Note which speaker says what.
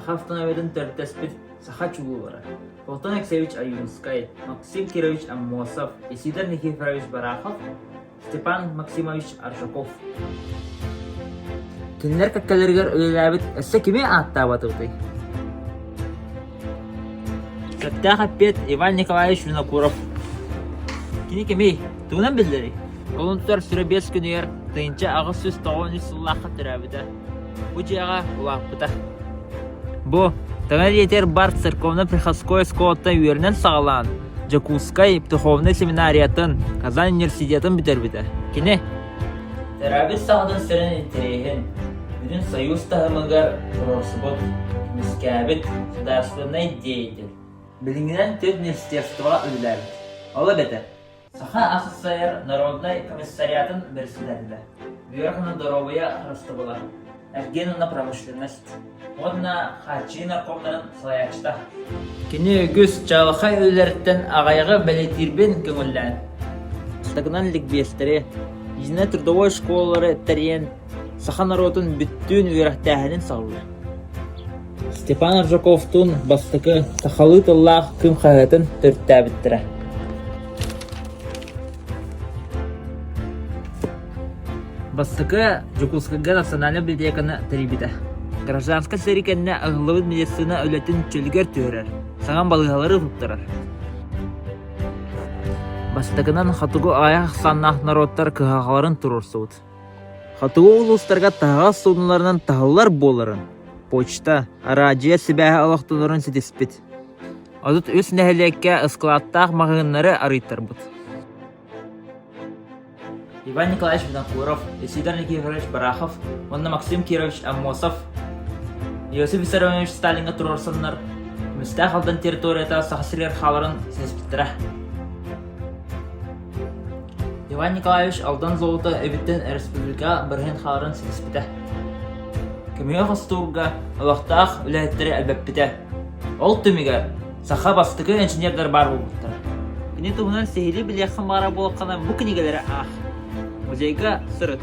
Speaker 1: Саха автомобилин төрүттэспит саха чулуулара Платон Алексеевич Аюнскай, Максим Кирович Аммосов, Исидор Никифорович Барахов Степан Максимович Аржаков Кинилэр кэккэлэригэр үлэлээбит өссө кими ааттаабатыбытый? Кэптээх эппиэт Иван Николаевич Винокуров Кини кимий? Тугунан биллэрий? Олунтур Сурэбиэс күнүгэр тыйынча аҕыс сүүс тоҕон үс сыллаахха төрөөбүтэ. Бу дьиэҕэ улааппыта. Бу таҥа эриэтигэр бар церковно-приходской оскуолаттан үөрэнэн саҕалаан Дьокуускай духовнай семинариятын, Казань университетын бүтэрбитэ. Кини терапевт саҕатын сэрэн интэриэһин, бүтүн союз таһымыгар туруорсубут, көмүскээбит судаарыстыбаннай деятель. Билиҥҥинэн төрүт университетскаҕа үлэлээбит. Ол эбэтэр Саха ахсайар народнай комиссариатын бэрэссэдээтэлэ, Үөрэх уонна доруобуйа харыстабыла, эргиэн уонна промышленность уонна хааччыйыы наркомнарын салайааччыта. Кини үгүс чаҕылхай үлэлэриттэн аҕайаҕы бэлэтиирбин көҥүллээн. Бастакынан ликбиэстэри, Единая трудовой школалары тэрийэн саха норуотун бүттүүн үөрэхтээһинин салҕыыр. Степан Аржаковтуун бастакы сахалыы тыллаах күн хаһыатын төрүттээбиттэрэ. Бастакы Дьокуускайга национальнай библиотеканы тэрийбитэ. Гражданскай сэрии кэннэ аһыллыбыт медицина үлэтин чөлүгэр түһэрэр, саҥа балыыһалары туттарар. Бастакынан хотугу айах ахсааннаах норуоттар кыһалҕаларын туруорсубут. Хотугу улуустарга таһаҕас суунууларынан таһыллар буоларын, почта, араадьыйа сибээһэ олохтонорун ситиспит. Отут үс нэһилиэккэ ыскылааттаах маҕаһыыннары арыйтарбыт. Иван Николаевич Винокуров, Исидор Никифорович Барахов уонна Максим Кирович Аммосов Иосиф Виссарионович Сталиҥҥа туруорсаннар Мүстээх Алдан территорията Саха сиригэр хааларын ситиспиттэрэ. Иван Николаевич Алдан Золото эбиттэн өрөспүүбүлүкэҕэ барыһын хааларын ситиспитэ. Көмүһэ хостуурга олохтоох үлэһиттэри элбэппитэ. Ол түмүгэр саха бастакы инженердэр баар буолбуттара. Ини туһунан сиһилии билиэххин баара буоллаххына бу кинигэлэри аах. Музейга сырыт.